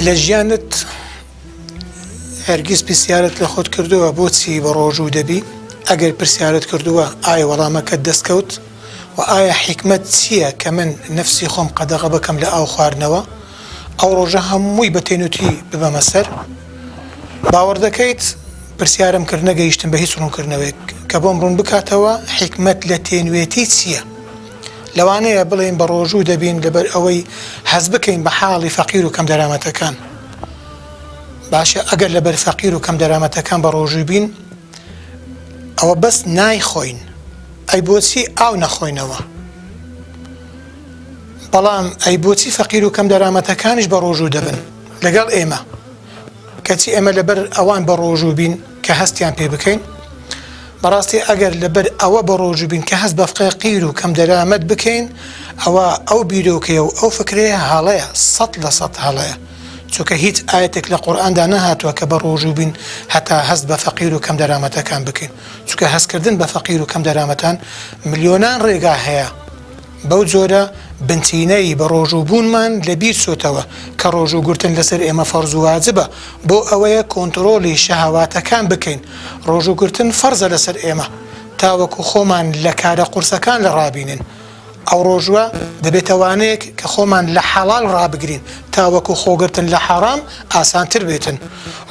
لە ژیانت هەرگیز پرسیارت لە خۆت کردووە بۆچی بە ڕۆژوو دەبی ئەگەر پرسیارت کردووە ئایا وەڵامەکەت دەستکەوت و ئایا حیکمت چییە کە من نفسی خۆم قەدەغە بکەم لە ئاو خواردنەوە ئەو ڕۆژە هەمووی بە تێنوتی ببەمە سەر باوەڕ دەکەیت پرسیارم کرد نەگەیشتم بە هیچ ڕوونکردنەوەیەک کە بۆم ڕوون بکاتەوە حیکمت لە تێنوێتی چییە؟ لەوانەیە بڵێین بەڕۆژوو دەبین لەبەر ئەوەی هەست بکەین بە حاڵی فەقیر و کەم دەرامەتەکان. باشە ئەگەر لەبەر فەقیر و کەم دەرامەتەکان بەڕۆژووی بین، ئەوە بەس نایخۆین، ئەی بۆچی ئاو نەخۆینەوە؟ بەڵام ئەی بۆچی فەقیر و کەم دەرامەتەکانیش بەڕۆژوو دەبن لەگەڵ ئێمە؟ کەچی ئێمە لەبەر ئەوان بەڕۆژوو بین کە هەستیان پێ بکەین؟ بەڕاستی ئەگەر لەبەر ئەوە بەڕۆژوو بین کە هەست بە فقیر و کەمدەرامەت بکەین، ئەوا ئەو بیرۆکەیە و ئەو فکرەیە هەڵەیە، سەد لە سەد هەڵەیە. چونکە هیچ ئایەتێک لە قورئاندا نەهاتووە کە بەڕۆژوو بین هەتا هەست بە فەقیر و کەمدەرامەتەکان بکەین. چونکە هەستکردن بە فەقیر و کەمدەرامەتان ملیۆنان ڕێگا هەیە. بەو جۆرە بنچینە ی بەڕۆژوو بوونمان لە بیر چۆتەوە کە ڕۆژوو گرتن لەسەر ئێمە فەرز و واجبە بۆ ئەوەیە کۆنتڕۆڵی شەهەواتەکان بکەین ڕۆژوو گرتن فەرزە لەسەر ئێمە تاوەکو خۆمان لە کارە قورسەکان لە ڕابینن ئەو ڕۆژوە دەبێتە وانەیەک کە خۆمان لە حەڵاڵ ڕابگرین تاوەکو خۆگرتن لە حەڕام ئاسانتر بێتن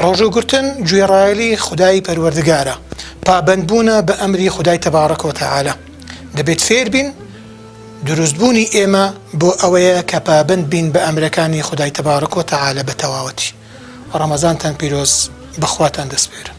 ڕۆژوو گرتن گوێڕایەلی خودای پەروەردگارە پابەند بوونە بە ئەمری خودای تبارک و تعالی. دەبێت فێربین دروستبوونی ئێمە بۆ ئەوەیە کە پابەند بین بە ئەمرەکانی خودای تەبارەک و تەعالا بە تەواوەتی ڕەمەزانتان پیرۆز بەخواتان دەسپێرم.